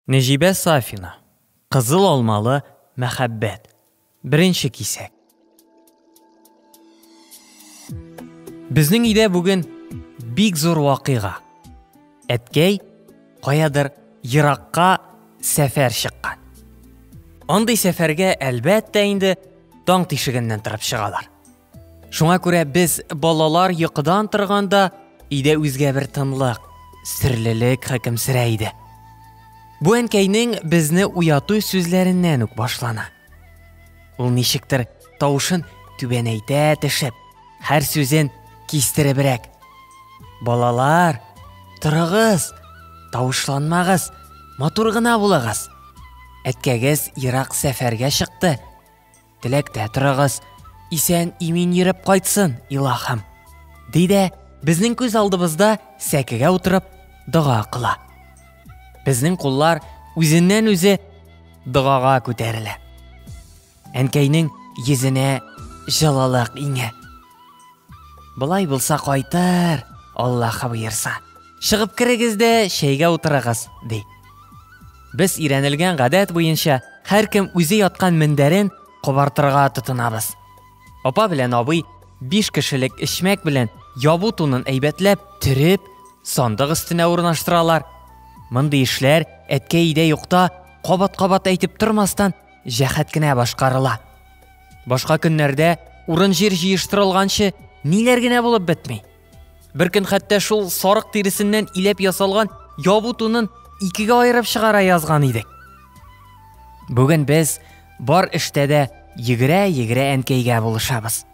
Нәҗибә Сафина. Кызыл алмалы мәхәббәт. Беренче кисәк. Безнең өйдә бүген бик зур вакыйга. Әткәй каядыр еракка сәфәр чыккан. Андый сәфәргә әлбәттә инде таң тишегеннән торып чыгалар. Шуңа күрә без балалар йокыдан торганда өйдә үзгә бер тынлык, серлелек хөкемсерә иде. Бу әнкәйнең безне уяту сүзләреннән үк башлана. Ул ничектер тавышын түбәнәйтә төшеп, һәр сүзен кистеребрәк. Балалар, торыгыз, тавышланмагыз, матур гына булыгыз. Әткәгез ерак сәфәргә чыкты. Теләктә торыгыз, исән имин йөреп кайтсын, илаһым. Ди дә, безнең күз алдыбызда сәкегә утырып дога кыла. Безнең куллар үзеннән үзе догага күтәрелә. Әнкәйнең йөзенә җылылык иңә. Болай булса кайтыр, Аллаһы боерса. Чыгып керегез дә чәйгә утырыгыз, ди. Без өйрәнелгән гадәт буенча һәркем үзе яткан мендәрен кубартырга тотынабыз. Апа белән абый биш кешелек эчмәк белән ябу тунын әйбәтләп төреп, сандык өстенә урнаштыралар. Мондый эшләр әткәй өйдә юкта кабат-кабат әйтеп тормастан җәһәт кенә башкарыла. Башка көннәрдә урын-җир җыештырылганчы ниләр генә булып бетми. Бер көн хәтта шул сарык тиресеннән иләп ясалган ябу тунын икегә аерып чыгара язган идек. Бүген без бар эштә дә йөгерә-йөгерә әнкәйгә булышабыз.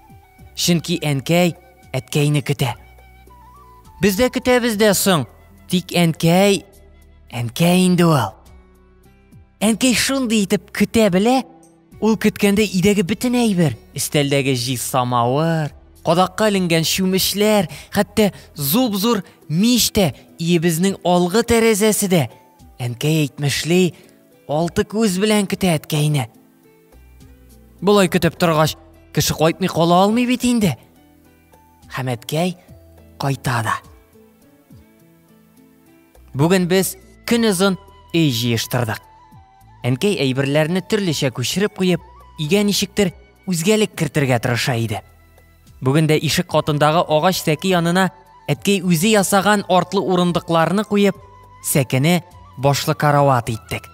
Чөнки әнкәй әткәйне көтә. Без дә көтәбез дә соң, тик әнкәй, әнкәй инде ул. Әнкәй шундый итеп көтә белә, ул көткәндә идәге бөтен әйбер, өстәлдәге җи самавыр, кадакка эленгән чүмешләр, хәтта зуп-зур мич тә, иебезнең алгы тәрәзәсе дә. Әнкәй әйтмешли, алты күз белән көтә әткәйне. Болай көтеп торгач, кеше кайтмый кала алмый бит инде. Хәмәткәй кайта да. Бүген без көн озын өй җыештырдык. Әнкәй әйберләрне төрлечә күчереп куеп, өйгә ничектер үзгәлек кертергә тырыша иде. Бүген дә ишек катындагы агач сәке янына әткәй үзе ясаган артлы урындыкларны куеп, сәкене башлы карават иттек.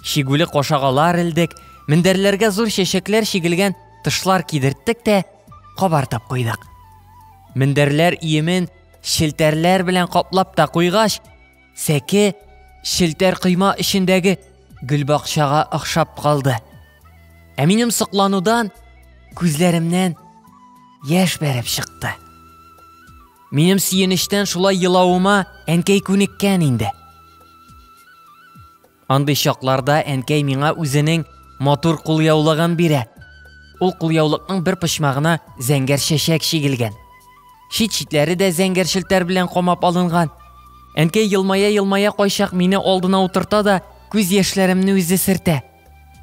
Шигүле кошагалар элдек, мендәрләргә зур чәчәкләр чигелгән тышлар кидерттек тә кабартып куйдык. Мендәрләр иемен Челтәрләр белән каплап та куйгач, сәке челтәр койма эчендәге гөлбакчага охшап калды. Ә минем сокланудан күзләремнән яшь бәреп чыкты. Минем сөенечтән шулай елавыма әнкәй күнеккән инде. Андый чакларда әнкәй миңа үзенең матур кулъяулыгын бирә. Ул кулъяулыкның бер почмагына зәңгәр чәчәк чигелгән. Чит-читләре дә зәңгәр челтәр белән камап алынган. Әнкәй елмая-елмая кайчак мине алдына утырта да, күз яшьләремне үзе сертә.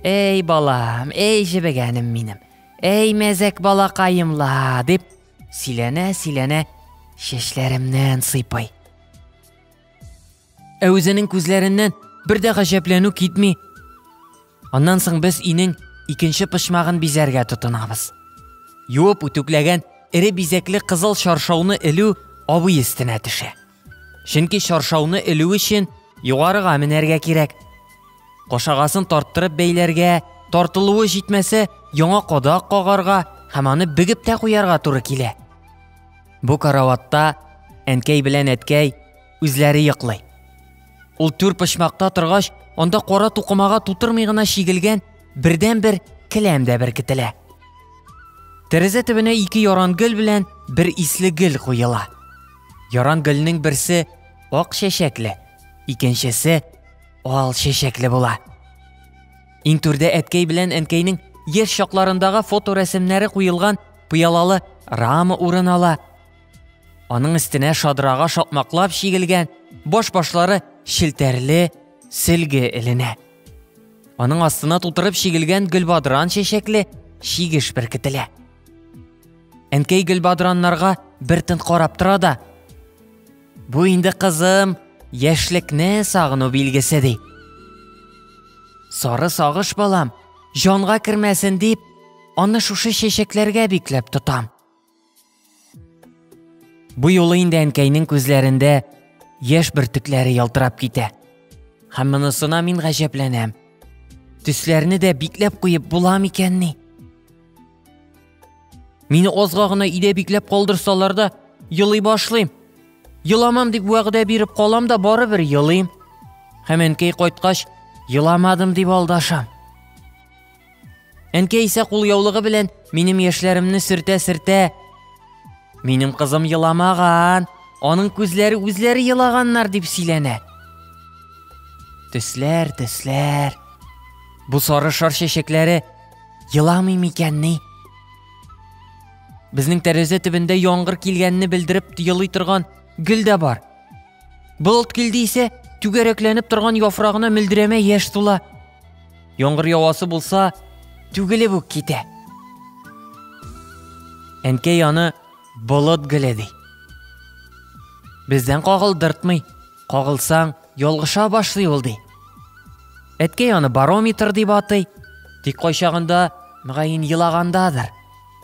Әй балам, әй җебегәнем минем, әй мәзәк балакаемла, дип сөйләнә-сөйләнә чәчләремнән сыйпый. Ә үзенең күзләреннән бер дә гаҗәпләнү китми. Аннан соң без инең икенче почмагын бизәргә тотынабыз. Юып үтүкләгән эре бизәкле кызыл чаршауны элү абый өстенә төшә. Чөнки чаршауны элү өчен югарыга менәргә кирәк. Кошагасын тарттырып бәйләргә, тартылуы җитмәсә, яңа кадак кагарга һәм аны бегеп тә куярга туры килә. Бу караватта әнкәй белән әткәй Үзләре йоклый. Ул түр почмакта торгач, анда кара тукымага тутырмый гына чигелгән бердән-бер келәм дә беркетелә. Тәрәзә төбенә ике яран гөл белән бер исле гөл куела. Яран гөлнең берсе ак чәчәкле, икенчесе ал чәчәкле була. Иң түрдә әткәй белән әнкәйнең яшь чакларындагы фоторәсемнәре куелган пыялалы рама урын ала. Аның өстенә шадрага шакмаклап чигелгән баш-башлары челтәрле сөлге эленә. Аның астына тутырып чигелгән гөлбадран чәчәкле чигеш беркетелә. Әнкәй гөлбадраннарга бер тын карап тора да, Бу инде кызым, яшьлекне сагыну билгесе ди. Сары сагыш балам, җанга кермәсен дип, аны шушы чәчәкләргә бикләп тотам. Бу юлы инде әнкәйнең күзләрендә яшь бөртекләре ялтырап китә. Һәм монысына мин гаҗәпләнәм. Төсләрне дә бикләп куеп була микәнни? Мине озга гына өйдә бикләп калдырсалар да, елый башлыйм. Еламам дип вәгъдә биреп калам да барыбер елыйм. Һәм әнкәй кайткач, еламадым дип алдашам. Әнкәй исә кул яулыгы белән минем яшьләремне сөртә-сөртә. Минем кызым еламаган, аның күзләре үзләре елаганнар дип сөйләнә. Төсләр, төсләр. Бу сары шар чәчәкләре еламый микәнни? Безнең тәрәзә төбендә яңгыр килгәнне белдереп елый торган гөл дә бар. Болыт килде исә, түгәрәкләнеп торган яфрагына мөлдерәмә яшь тула. Яңгыр явасы булса, түгелеп үк китә. Әнкәй аны болыт гөле ди. Бездән кагылдыртмый, кагылсаң, ялгыша башлый ул ди. Әткәй аны барометр дип атый, тик кайчагында, мөгаен, елагандадыр.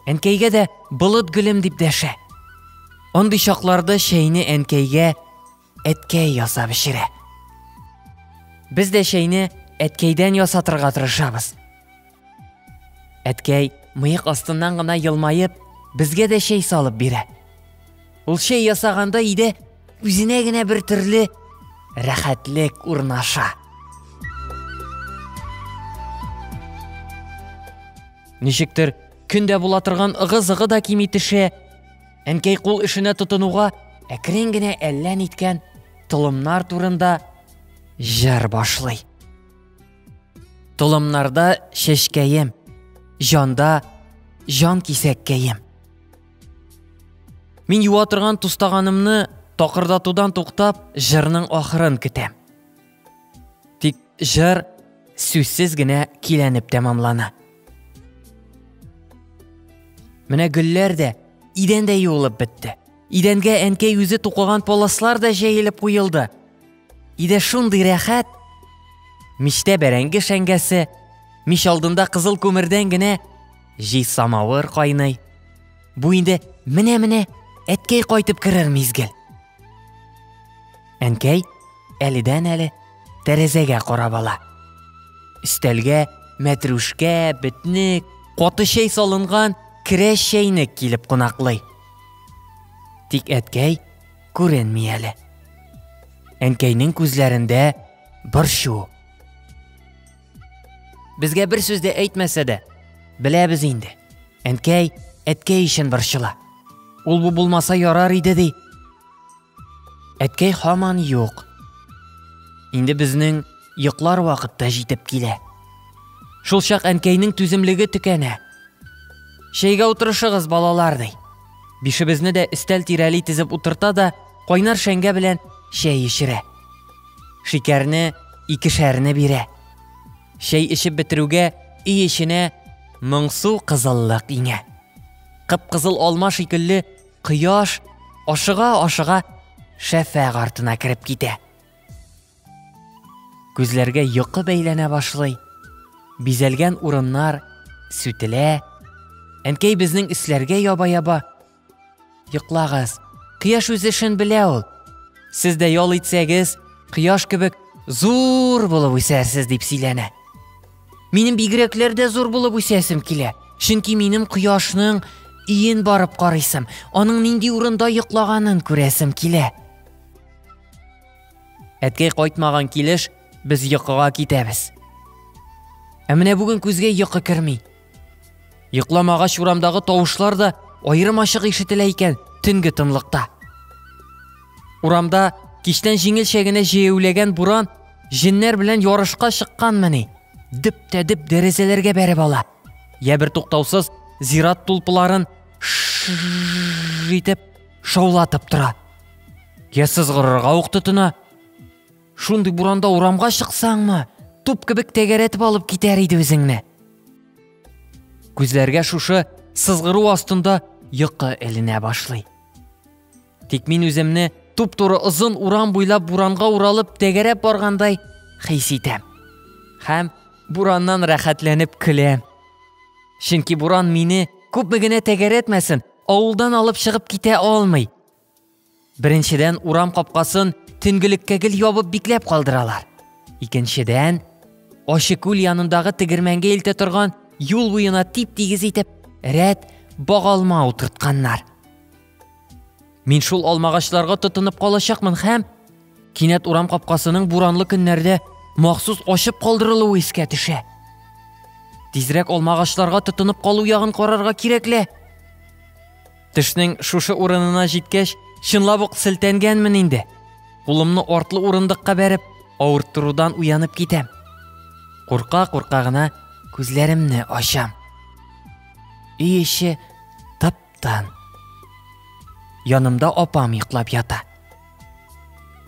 Әнкәйгә дә болыт гөлем дип дәшә. Андый чакларда чәйне әнкәйгә әткәй ясап эчерә. Без дә чәйне әткәйдән ясатырга тырышабыз. Әткәй мыек астыннан гына елмаеп, безгә дә чәй салып бирә. Ул чәй ясаганда иде үзенә генә бер төрле рәхәтлек урнаша. Ничектер, көндә була торган ыгы-зыгы да кими төшә, Әнкәй кул эшенә тотынуга әкрен генә әллә ниткән толымнар турында җыр башлый. Толымнарда чәчкәем, җанда җан кисәккәем. Мин юа торган тустаганымны такырдатудан туктап, җырның ахырын көтәм. Тик җыр сүзсез генә киләнеп тәмамлана. Менә гөлләр дә идән дә юылып бетте. Идәнгә әнкәй үзе тукыган полослар да җәелеп куелды. Иде шундый рәхәт. Мичтә бәрәңге шәңгәсе, мич алдында кызыл күмердән генә җи самавыр кайный. Бу инде менә-менә әткәй кайтып керер мизгел. Әнкәй әледән-әле тәрәзәгә карап ала. Өстәлгә мәтрүшкә, бетник, каты чәй салынган керәш чәйнек килеп кунаклый. Тик әткәй күренми әле. Әнкәйнең күзләрендә борчу. Безгә бер сүз дә әйтмәсә дә, беләбез инде. Әнкәй, әткәй өчен борчыла. Ул бу булмаса ярар иде ди. Әткәй хаман юк. Инде безнең йоклар вакытта җитеп килә. Шул чак әнкәйнең түземлеге төкәнә. Чәйгә утырышыгыз, балалар, ди. Бишебезне дә өстәл тирәли тезеп утырта да, кайнар шәңгә белән чәй эчерә. Шикәрне икешәрне бирә. Чәй эчеп бетерүгә өй эченә моңсу кызыллык иңә. Кып-кызыл алма шикелле кояш ашыга-ашыга шәфәг артына кереп китә. Күзләргә йокы бәйләнә башлый. Бизәлгән урыннар сүтелә. Әнкәй безнең өсләргә яба-яба Йоклагыз. Кояш үз эшен белә ул. Сез дә ял итсәгез, кояш кебек зур булып үсәрсез дип сөйләнә. Минем бигрәкләр дә зур булып үсәсем килә. Чөнки минем кояшның иен барып карыйсым, аның нинди урында йоклаганын күрәсем килә. Әткәй кайтмаган килеш без йокыга китәбез. Ә менә бүген күзгә йокы керми. Йокламагач урамдагы тавышлар да аерым ачык ишетелә икән төнге тынлыкта. Урамда кичтән җиңелчә генә җәяүләгән буран җеннәр белән ярышка чыкканмыни? Дип тә дип дәрәзәләргә бәреп ала. Я бер туктаусыз зират тулпыларын итеп шаулатып тора. Я сызгырырга ук тотына. Шундый буранда урамга чыксаңмы, туп кебек тәгәрәтеп алып китәр иде үзеңне. Күзләргә шушы сызгыру астында йокы эленә башлый. Тик мин үземне туп-туры озын урам буйлап буранга уралып тәгәрәп баргандай хис итәм. Һәм бураннан рәхәтләнеп көләм. Чөнки буран мине күпме генә тәгәрәтмәсен, авылдан алып чыгып китә алмый. Беренчедән, урам капкасын төнгелеккә гел ябып бикләп калдыралар. Икенчедән, ачы күл янындагы тегермәнгә илтә торган юл буена тип-тигез итеп рәт багалма утыртканнар. Мин шул алмагачларга тотынып калачакмын һәм кинәт урам капкасының буранлы көннәрдә махсус ачып калдырылуы искә төшә. Тизрәк алмагачларга тотынып калу ягын карарга кирәкле. Төшнең шушы урынына җиткәч, чынлап ук селтәнгәнмен инде. Кулымны артлы урындыкка бәреп, авырттырудан уянып китәм. Курка-курка гына күзләремне ачам. Өй эче таптан. Янымда апам йоклап ята.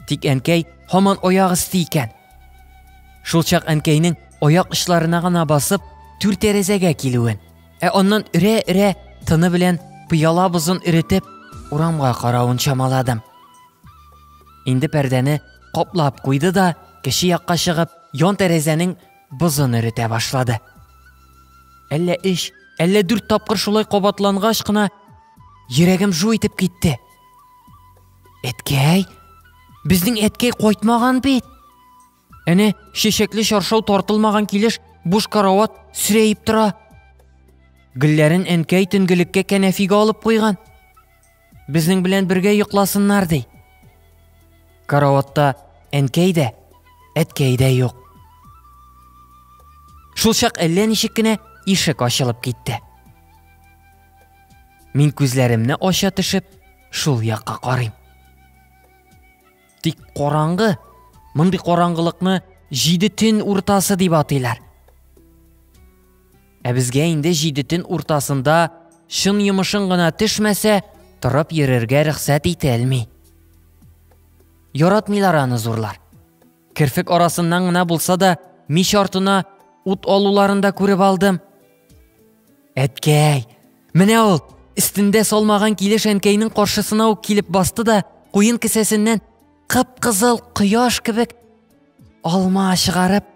Тик әнкәй һаман аяк өсте икән. Шулчак әнкәйнең аяк очларына гына басып, түр тәрәзәгә килүен Ә аннан өрә-өрә тыны белән пыяла бозын эретеп, урамга каравын чамаладым. Инде пәрдәне каплап куйды да, кеше якка чыгып, ян тәрәзәнең бозын эретә башлады. Әллә эш, әллә дүрт тапкыр шулай кабатлангач кына йөрәгем жу итеп китте. Әткәй, безнең әткәй кайтмаган бит. Әнә, чәчәкле чаршау тартылмаган килеш буш карават сүрәеп тора. Гөлләрен әнкәй төнгелеккә кәнәфигә алып куйган. Безнең белән бергә йокласыннар ди. Караватта әнкәй дә, әткәй дә юк. Шул чак әллә ничек кенә ишек ачылып китте. Мин күзләремне ача төшеп, шул якка карыйм. Тик караңгы, мондый караңгылыкны җиде төн уртасы дип атыйлар. Ә безгә инде җиде төн уртасында чын йомышың гына төшмәсә, торып йөрергә рөхсәт ителми. Яратмыйлар аны зурлар. Керфек арасыннан гына булса да, мич артына ут алуларын да күреп алдым. Әткәй, менә ул, өстендә салмаган килеш әнкәйнең каршысына ук килеп басты да, куен кесәсеннән кып-кызыл кояш кебек алма чыгарып,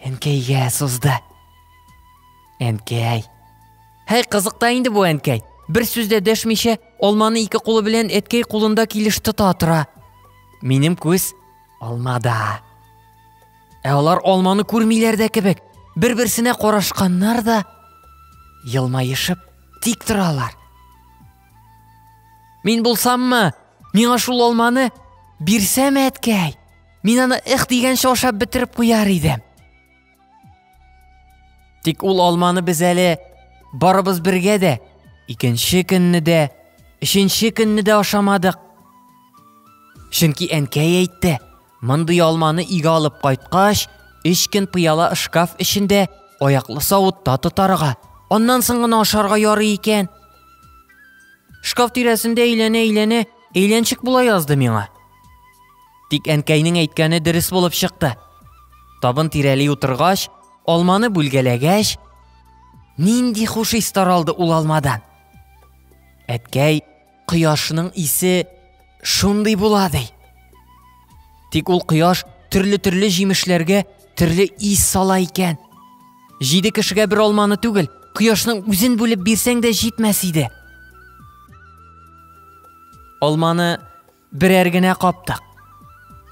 әнкәйгә сузды. Әнкәй. Һәй, кызык та инде бу әнкәй. Бер сүз дә дәшмичә, алманы ике кулы белән әткәй кулында килеш тота тора. Минем күз алмада. Ә алар алманы күрмиләр дә кебек, бер-берсенә карашканнар да елмаешып тик торалар. Мин булсаммы, миңа шул алманы бирсәм әткәй. Мин аны их дигәнчә ашап бетереп куяр идем. Тик ул алманы без әле барыбыз бергә дә, икенче көнне дә, өченче көнне дә ашамадык. Чөнки әнкәй әйтте, Мондый алманы игә алып кайткач, өч көн пыяла шкаф эчендә аяклы савытта тотарга, аннан соң гына ашарга ярый икән. Шкаф тирәсендә әйләнә-әйләнә әйләнчек була язды миңа. Тик әнкәйнең әйткәне дөрес булып чыкты. Табын тирәли утыргач, алманы бүлгәләгәч, нинди хуш ис таралды ул алмадан. Әткәй Кояшның исе шундый була ди. Тик ул кояш төрле-төрле җимешләргә төрле ис сала икән. Җиде кешегә бер алманы түгел, кояшның үзен бүлеп бирсәң дә җитмәс иде. Алманы берәр генә каптык.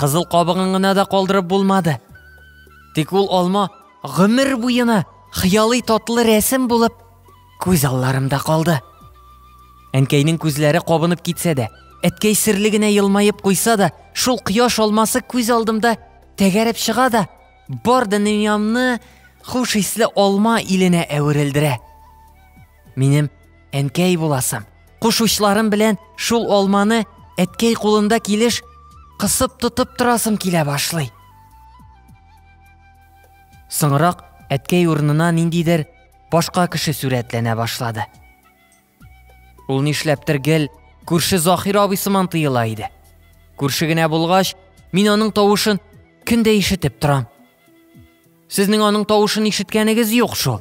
Кызыл кабыгын гына да калдырып булмады. Тик ул алма гомер буена хыялый татлы рәсем булып Күз алларымда калды. Әнкәйнең күзләре кабынып китсә дә, әткәй серле генә елмаеп куйса да, шул кояш алмасы күз алдымда тәгәрәп чыга да, бар дөньямны хуш исле алма иленә әверелдерә. Минем әнкәй буласым. Куш учларым белән шул алманы әткәй кулында килеш кысып тотып торасым килә башлый. Соңрак әткәй урынына ниндидер башка кеше сурәтләнә башлады. Ул нишләптер гел күрше Захир абый сыман тыела иде. Күрше генә булгач, мин аның тавышын көн дә ишетеп торам. Сезнең аның тавышын ишеткәнегез юк шул.